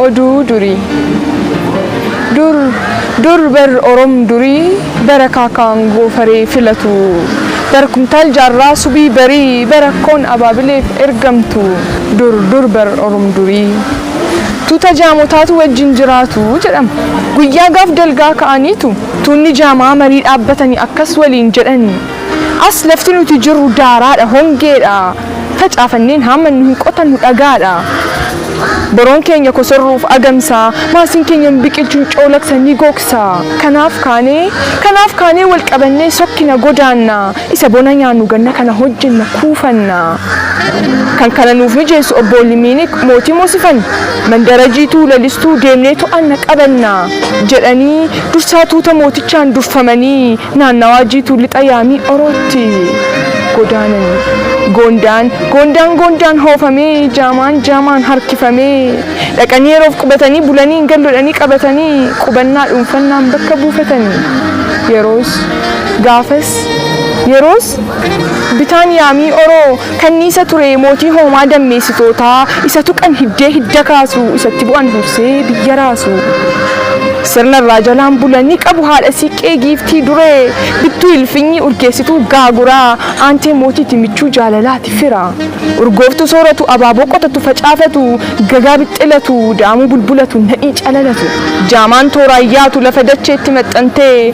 Oduu durii. Dur dur bar orom durii bara kaakaan goofaree filatu bara kumtaal jaarraa subii barii bara akkoon abaabileef ergamtu dur dur bar orom durii tuuta jaamotaatu wajjin jiraatu jedhama guyyaa gaaf dalgaa ka'aniitu tuunni jaamaa marii dhaabbatani akkas waliin jedhani As lafti nuti jirru daaraadha, hongeedha, facaafannee hin haammannu, hin qotannu, dhagaadha. Boroon keenya kosorruuf agamsa, maasiin keenya hin biqilchu, hin coolagsa, ni gogsa. Kanaaf kaanee, kanaaf kaanee wal qabannee sokkina, godaanna. Isa bona nyaannu ganna kana hojjenna, kuufanna. Kan kana nuuf mijeessu Obboolli Miiniik mootii moosifan, mandara jiituu, lalistuu, deemnee to'anna, qabanna. jedhanii Dursaa tuuta mootichaan durfamanii naannawaa jiituu lixa yaamii Orootti godaanani. Goondaan Goondaan Goondaan hoofamee Jaamaan Jaamaan harkifamee dhaqanii yeroof qubatanii bulanii hin gallodhanii qabatanii qubannaa dhuunfannaan bakka buufatani. Yeroos gaafas yeroos bitaan yaamii Oroo Kanniisa ture mootii hoomaa dammeessitootaa, isa tuqan hiddee hidda kaasu, isatti bu'an hursee biyya raasu. Sirna irraa jalaan bula ni qabu haadha siiqqee giiftii duree, bittuu ilfinyii urgeessituu gaaguraa, aantee mootiiti michuu jaalalaati fira. Urgooftuu sooratu, abaaboo qotatu facaafatu, gagaa bixxilatu, daamuu bulbulatu, nadhii calalatu. Jaamaan tooraan yaatu lafa dacheetti maxxantee,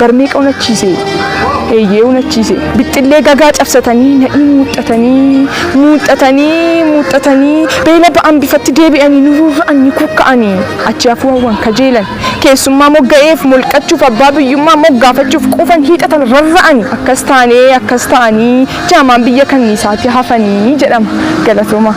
barmeeqa unachiise eeyyee unachiise bixxillee gagaa cabsatanii nadhii muuxxatanii muuxxatanii muuxxatanii beela ba'an bifatti deebi'anii nu rurra'an ni kukka'anii achi hafuu hawwan kajeelan keessummaa mogga'eef molqachuuf abbaa biyyummaa moggaafachuuf quufan hiixatan rarra'anii akkas taanee akkas ta'anii jaamaan biyya kanniisaatti hafanii jedhama galatoomaa.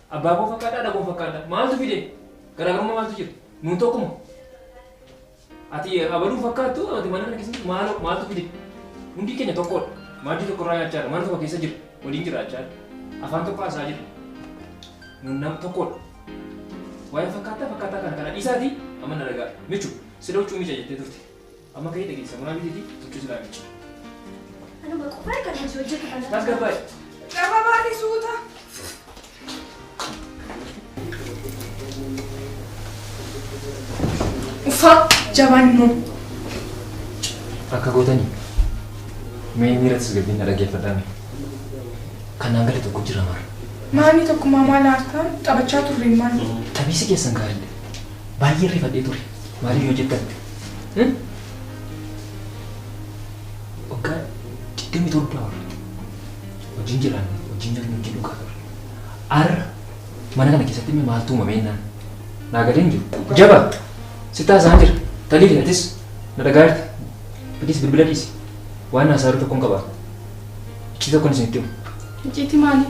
Abbaa koo fakkaadha, haadha koo fakkaadha. Maaltu fide? Garaagarummaa maaltu jira? Nuun tokkuma. Ati abaluu fakkaattu, ati mana kana keessatti maaloo maaltu fide? Hundi keenya tokkodha. Maaddii tokkorraa nyaachaa jirra, mana tokko keessa jirra, waliin jiraachaa jirra. Afaan tokko haasaa jirra. Nuun nama tokkodha. Waa'ee fakkaataa fakkaataa kana kana dhiisaatii amma na dhagaa. Michu, sila huccuu miica jettee turte. Amma ka'ii dhaqi samunaa bitiitii huccuu siraa miicci. Anuma qofaa kan hojii hojjetu kana. Tasgabbaa'e. Gababaani suuta. Uffaa jabaan immoo. Akka gootanii mee miira tasgabbiin na dhaggeeffadhaa mee. Kanaan gadi tokko jira mara. Maamii tokkummaa maal aartaan taphachaa turre maal. Taphiisi keessan gaariidha. Baay'ee rifadhee ture. Maaliif yoo jettan Waggaa 27 ol wajjin jiraanne wajjin nyaanne wajjin dhugaa turre. Har'a mana kana keessatti immoo maaltu uumamee naan naa galee hin jiru. Jaba sitti haasa'aan jira. Taliili atis na dhagaa jirta. Please bilbila dhiisi. Waan haasaa jiru tokkoon qaba. Iccitii tokkoon isinitti himu. Iccitii maalii?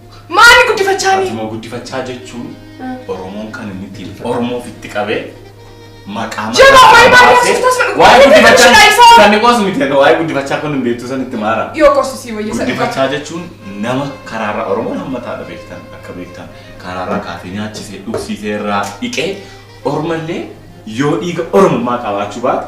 Maali guddifachaa ni? Fatima guddifachaa jechuun Oromoon kan inni ittiin Oromoo ofitti qabee maqaa Jabaa waa'ee maqaa baay'ee baasee hojjetas fedhu. waa'ee Guddifachaa guddifachaa isaa. sanni qoosu miti egaa waa'ee guddifachaa kun hin beektu san itti maara. Yoo qosisii wayya sana. Guddifachaa jechuun nama karaarra Oromoon hammataadha beektan akka beektan karaarraa kaasee nyaachisee dhugsiisee irraa dhiqee Ormallee yoo dhiiga Oromummaa qabaachuu baate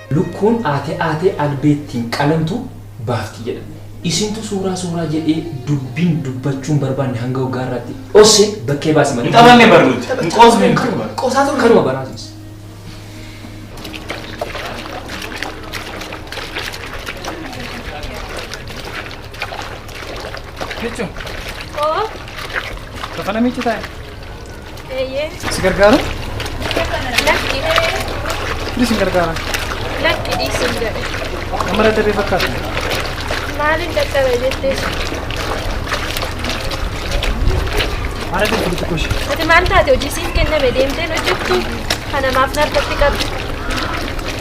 Lukkuun aatee aatee albeettiin qalamtu baafti jedha. Isintu suuraa suuraa jedhee dubbiin dubbachuu hin barbaanne hanga waggaa irraatti dhosse bakkee baase malee. Hin taphanne bar nuti. Hin qoosne nuti Kanuma bar. qoosaa turre. Kanuma baraatiis. Jechuun Oo, bakka namichi taa'e. Eeyyee. Si gargaara? Lakki. Ni si gargaara. Lakki dhiisin jedhe. Amma dadhabee fakkaata. Maaliin dadhabe jettee? Haala kan kudu tokko ishee. Ati maal taate hojii siin kenname deemteen hojjettu kana maaf narratti qabdu?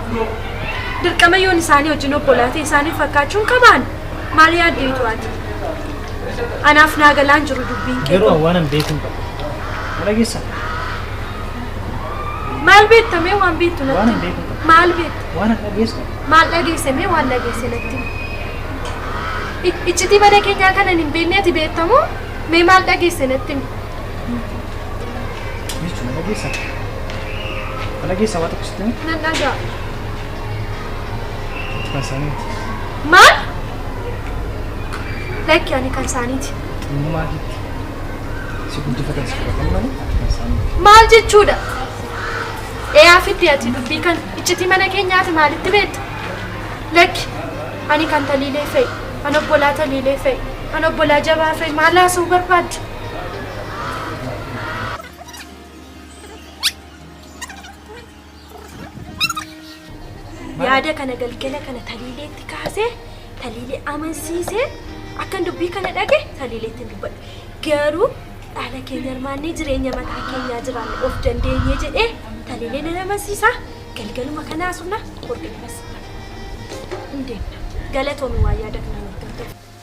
Abbo. Dirqama yoon isaanii wajjin obbolaa ta'e isaaniif fakkaachuun qabaan? Maal yaaddeetu ati? Anaaf naa galaan jiru dubbiin kee Garuu kun. waan an beekuun qabu. Na dhageessaa? Maal beekta mee waan beektu Waan natti? hin beekne qabu. Maal beekta? Waan an dhageessu Maal dhageesse mee waan dhageesse natti? I- Iccitii mana keenyaa kanan hin beekne ati beektamoo? Mee maal dhageesse natti? jechuun na dhageessaa? Kana keessa waa tokko sitti hima. Nan dhagaa. Kan isaaniiti. Maal? Lakki ani kan isaaniiti. Xinnummaa keetti. Si guddifatan si fudhatan malee ati kan isaaniiti. Maal jechuudha? Eeyaa fiddi ati dubbii kan iccitii mana keenyaati maalitti beekta? Lakki ani kan taliilee fa'i. Kan obbolaa taliilee fa'i. Kan obbolaa jabaa fa'i. Maal haasa'uu barbaaddu? yaada kana galgala kana taliileetti kaasee taliilee amansiisee akkan dubbii kana dhage taliileetti hin dubbadhu garuu dhaala keenya hirmaannee jireenya mataa keenyaa jiraanne of dandeenye jedhee taliilee nan amansiisaa galgaluma kanaa sumna hordofas hin deemna galatoomi waa yaada kana nuuf galteef.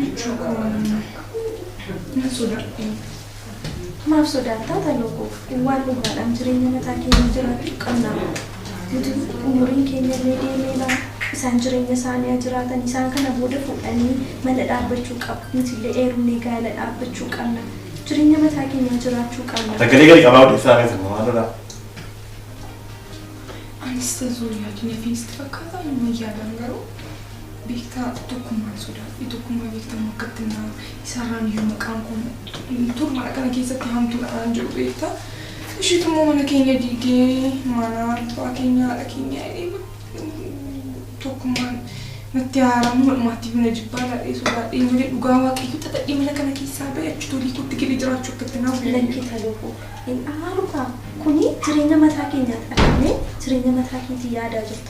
Michuu koo nan jaalladha. Nan sodaadhu. Maaf sodaattaa Taloo koo? Waan dhugaadhaan jireenya mataa keenya jiraachuu qabna. Nuti umuriin keenya illee deemeera. Isaan jireenya isaanii haa jiraatan. Isaan kana booda fuudhanii mana dhaabbachuu qabu. Nuti illee heerumnee gaa'ela dhaabbachuu qabna. Jireenya mataa keenyaa jiraachuu qabna. Sagalee gadi qabaa odeessaa keessa maal lolaa? Anis tazuu yaadni fi sitti fakkaataa hin yaadaan garuu. Beektaa, ati tokkummaa hin sodaadhu. Tokkummaa beekta moo akkatti naaru? Isaarraan iyyuu maqaan koo utuu mana kana keessatti haamtuudha naan jedhu beekta. Ishiitu immoo mana keenya diigee mana abbaa keenya haadha keenya tokkummaan natti haaramu madhumaatti iyyuu na jibbaa laadhee sodaadhee malee dhugaa waaqayyo xaxadhee mana kana keessaa ba'e achi tolii kootti galee jiraachuu akkatti naaru. Lakki taloofu hin aarukaa kuni jireenya mataa keenyaati argamee jireenya mataa keetii yaadaa jirta.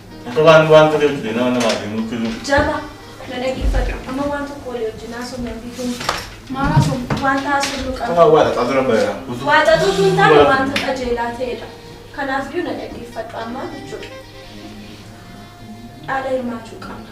Akka waan waan ta'e hojjete nama namaa fi nutti himu. Jaba, na dhaggeeffadhu. Amma waan tokko walii wajjin haasofnu ofii kun Maal haasofnu? wanta haasofnu Akka qabna. waan waaqataa dura bareera. Waaqatuu sun taane wanta qajeelaa ta'edha. Kanaaf iyyuu na dhaggeeffadhu ammaa jechuudha. Dhaala hirmaachuu qabna.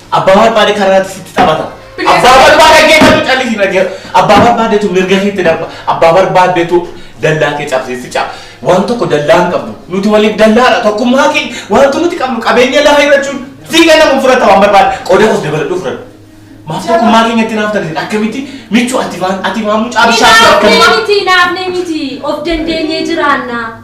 Abbaa barbaade karaatti sitti taphata. Abbaa barbaade geeffatu callisii dhagee. Abbaa barbaadetu mirga keetti darba. Abbaa barbaadetu dallaa kee cabsee si caba. Waan tokko dallaa hin qabdu. Nuti waliif dallaadha. Tokkummaa kee wanti nuti qabnu qabeenya lafa hir'achuun siiga namu fudhata waan barbaade. Qooda kos dabaladhu fudhadhu. Maaf tokkummaa keenyatti naaf taate akkamitti michuu ati waan ati waan mucaa bishaan Naafnee akkamitti. miti, naafnee miti. Of dandeenyee jiraanna.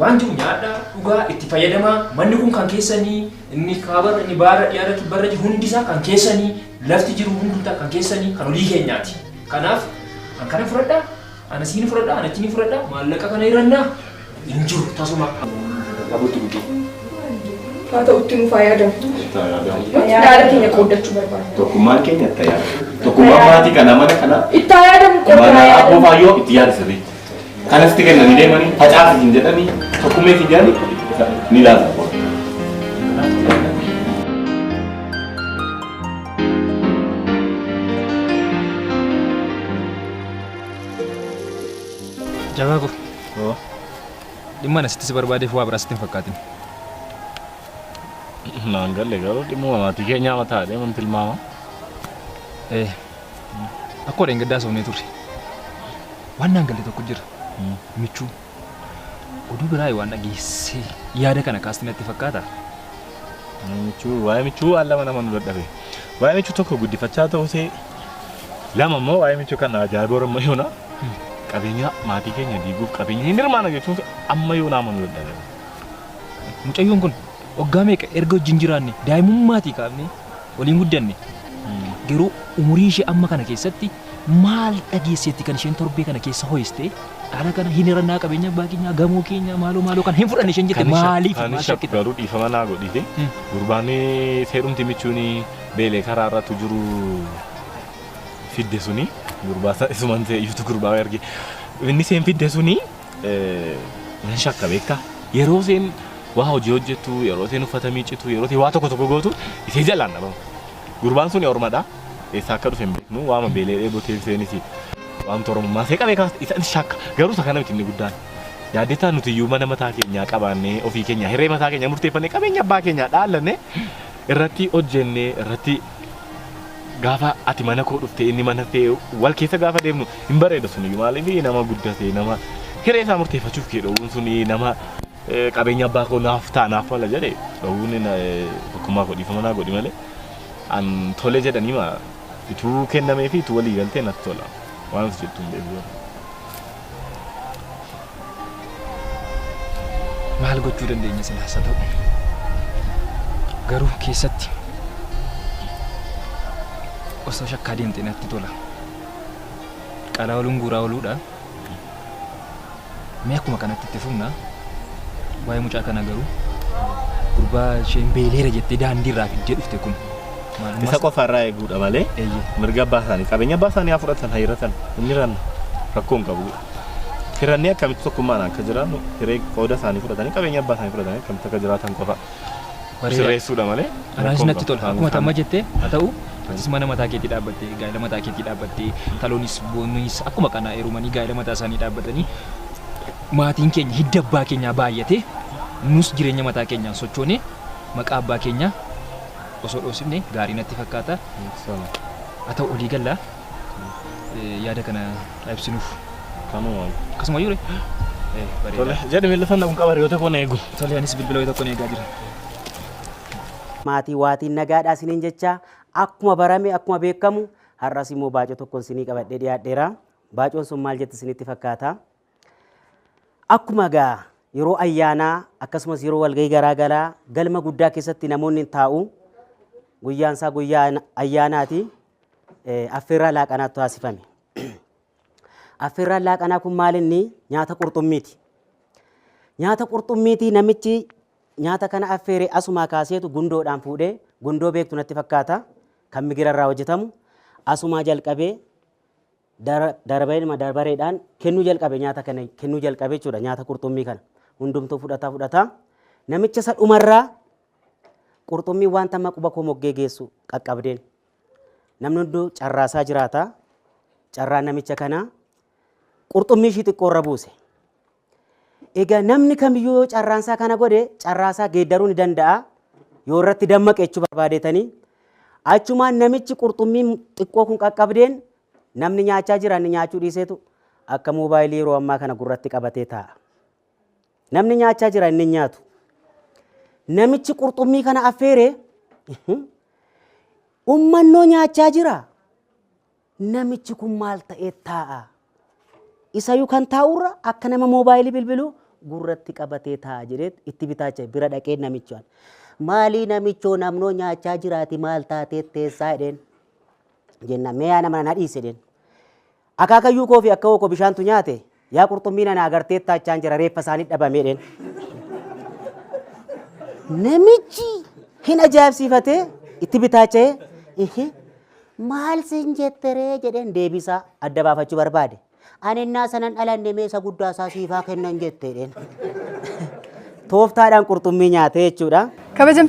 Waan jiru nyaadhaa, dhugaa, itti fayyadamaa, manni kun kan keessanii, inni kaabarra, inni baarra, dhiyaarra, kibbarra jiru hundi isaa kan keessanii, lafti jiru hundumtaa kan keessanii, kan olii keenyaati. Kanaaf, an kana fudhadhaa, ana siin fudhadhaa, ana achiin fudhadhaa, maallaqa kana hirannaa hin jiru tasuma. Abutti guddee. Haa ta'utti nuuf haa yaadamtu. Nuti yaada keenya qooddachuu barbaadna. Tokkummaan keenya itti yaada. Tokkummaan maatii kana mana kana Itti haa yaadamu qofa haa mana yaadamu. abboo faayyoo itti yaada sirriitti. Kanasti kennanii deemanii facaafi hin jedhanii tokkummeef hin jedhanii ni laata. Jabaa koo. Dhimma ani sitti si barbaadeef waa biraa sitti hin fakkaatin. Naan galle garuu dhimma maatii keenyaa mataa deeman tilmaama. Eh, Akkoo dheengaddaa soofnee turre. Waan naan galle tokko jira. Michuu. Oduu biraa waan dhageesse yaada kana kaasti natti fakkaata. Michuu waa'ee michuu waan lama nama nu dadhabe. Waa'ee michuu tokko guddifachaa ta'usee lama immoo waa'ee michuu kan ajaa'iboo ramma yoona qabeenya maatii keenya diiguuf qabeenya hin hirmaana jechuun amma yoona amma nu dadhabe. Mucayyoon kun Waggaa meeqa erga wajjin jiraanne daa'imummaatii kaafnee waliin guddanne. Garuu umurii ishee amma kana keessatti maal dhageesseetti kan isheen torbee kana keessa ho'istee dhaala kana hin hirannaa qabeenya abbaa keenyaa gamoo keenyaa maaloo maaloo kana hin fudhanne isheen jette Kanisha, maaliif maal Kanisha shakkita? garuu dhiifama naa godhiifi. Hmm. Gurbaamee seerumti michuuni beelee karaa irratti jiru fidde suni gurbaa isa- isuman ta'e iyyutu gurbaa erge. Inni seen fidde suni Nan shakka beektaa? Yeroo isheen waa hojii hojjettu, yeroo isheen uffata miiccitu, yeroo isheen waa tokko tokko gootu ishee jalaan dhabama. Gurbaan sun ormadha. Eessaa akka dhufe hin beeknu. Waama beelee dheebotee isheenis waamtu oromummaa ishee qabee kaasa. Isa shakka. Garuu isa kana miti inni guddaan. Yaaddeettaa nuti iyyuu mana mataa keenyaa qabaannee ofii keenyaa hiree mataa keenyaa murteeffannee qabeenya abbaa keenyaa dhaallannee irratti hojjennee irratti gaafa ati mana koo dhufte inni mana kee wal keessa gaafa deemnu hin bareeda suniyyuu maaliif nama guddate nama hiree isaa murteeffachuuf kee dhowwuun suni nama eh, qabeenya abbaa koo naaf ta'a naaf mala jedhe dhowwuun na- eh, tokkummaa koo dhiifama naa godhi malee an tole jedhanii ma ituu kennamee fi ituu walii galtee natti tola waan ati jettu hin beeku garuu. maal gochuu dandeenya silaas haa ta'u garuu keessatti osoo shakkaa deemte natti tola qalaa oluun guuraa oluudha mee akkuma kanatti itti fufna waa'ee mucaa kana garuu gurbaa isheen beeleera jettee daandii irraa fiddee dhufte kun Maalummaa Isa isaa- qofa irraa eeguudha malee Eeyyee. mirga abbaa isaanii qabeenya abbaa isaanii haa fudhatan haa hiratan hin hiranne rakkoo hin qabu. Hirannee akkamitti tokkummaan akka jiraannu hiree qooda isaanii fudhatanii qabeenya abbaa isaanii fudhatanii akkamitti akka jiraatan qofa Bareeda. sirreessuudha malee. Anaanis rakkoo hin natti qabu. tola. Akkuma tamma jettee haa ta'u atis mana mataa keetii dhaabbattee gaa'ela mataa keetii dhaabbattee taloonis boonnis akkuma kana heerumanii gaa'ela mataa isaanii dhaabbatanii maatiin keenya hidda abbaa keenyaa baay'atee nus jireenya mataa keenyaan sochoonee maqaa abbaa keenyaa osoo dhoofsifne gaarii natti fakkaata. Haa ta'u olii galla yaada kana ibsinuuf. Kanumaan. Akkasuma yure. Tole jedhi miila sana kun qaba hiriyoota koo na eegu. Tole anis bilbila wayii tokkoon eegaa jira. Maatii waatiin nagaadhaa isiniin jechaa akkuma barame akkuma beekamu har'as immoo baacoo tokkoon isinii qabadhee dhiyaadheera. Baacoon sun maal jetti isinitti fakkaata? Akkuma egaa yeroo ayyaanaa akkasumas yeroo walgahii garaa garaa galma guddaa keessatti namoonni hin taa'u. Guyyaan isaa guyyaa ayyaanaati. Affeerraa laaqanaatu taasifame. Affeerraan laaqanaa kun maal inni nyaata qurxummiiti. Nyaata qurxummiiti namichi nyaata kana affeere asumaa kaaseetu gundoodhaan fuudhee gundoo beektu natti fakkaata kan migirarraa hojjetamu asumaa jalqabee Dara, darabeedhuma darbareedhaan kennuu jalqabe nyaata kana kennuu jalqabe jechuudha nyaata qurxummii kana hundumtuu fudhataa fudhataa namicha isa dhumarraa qurxummii wanta amma quba koo moggee geessu qaqqabdeen namni hunduu carraasaa jiraata carraa namicha kanaa qurxummii ishii xiqqoo irra buuse Egaa namni kamiyyuu yoo carraansaa kana godhe carraasaa geeddaruu ni danda'a. Yoo irratti dammaqe jechuu barbaadeetanii. Achumaan namichi qurxummiin xiqqoo kun qaqqabdeen namni nyaachaa jira inni nyaachuu dhiiseetu akka moobaayilii yeroo ammaa kana gurratti qabatee taa'a. Namni nyaachaa jira inni nyaatu. Namichi qurxummii kana affeere ummannoo nyaachaa jira. Namichi kun maal ta'eet taa'a? Isayu kan taa'urra akka nama moobaayilii bilbilu gurratti qabatee taa'a jedheet itti bitaacha bira dhaqee namichaan. Maalii namichoo namnoo nyaachaa jiraati maal taateet teessaa jedheen. Jenna mee yaa nama na dhiisi jedheen. Akaakayyuu koo fi akka koo bishaantu nyaate Yaa qurxummii nana agarteettaa jechaan jira reeffa isaanii dhabamee dheen. Namichi hin ajaa'ibsiifatee itti bitaacha'ee ihi maal sin jetteree jedheen deebisaa adda baafachuu barbaade. Ani innaa sanan dhalanne mee isa guddaa isaa siifaa kennan jetteedheen. Tooftaadhaan qurxummii nyaatee jechuudha. Kabajamtoota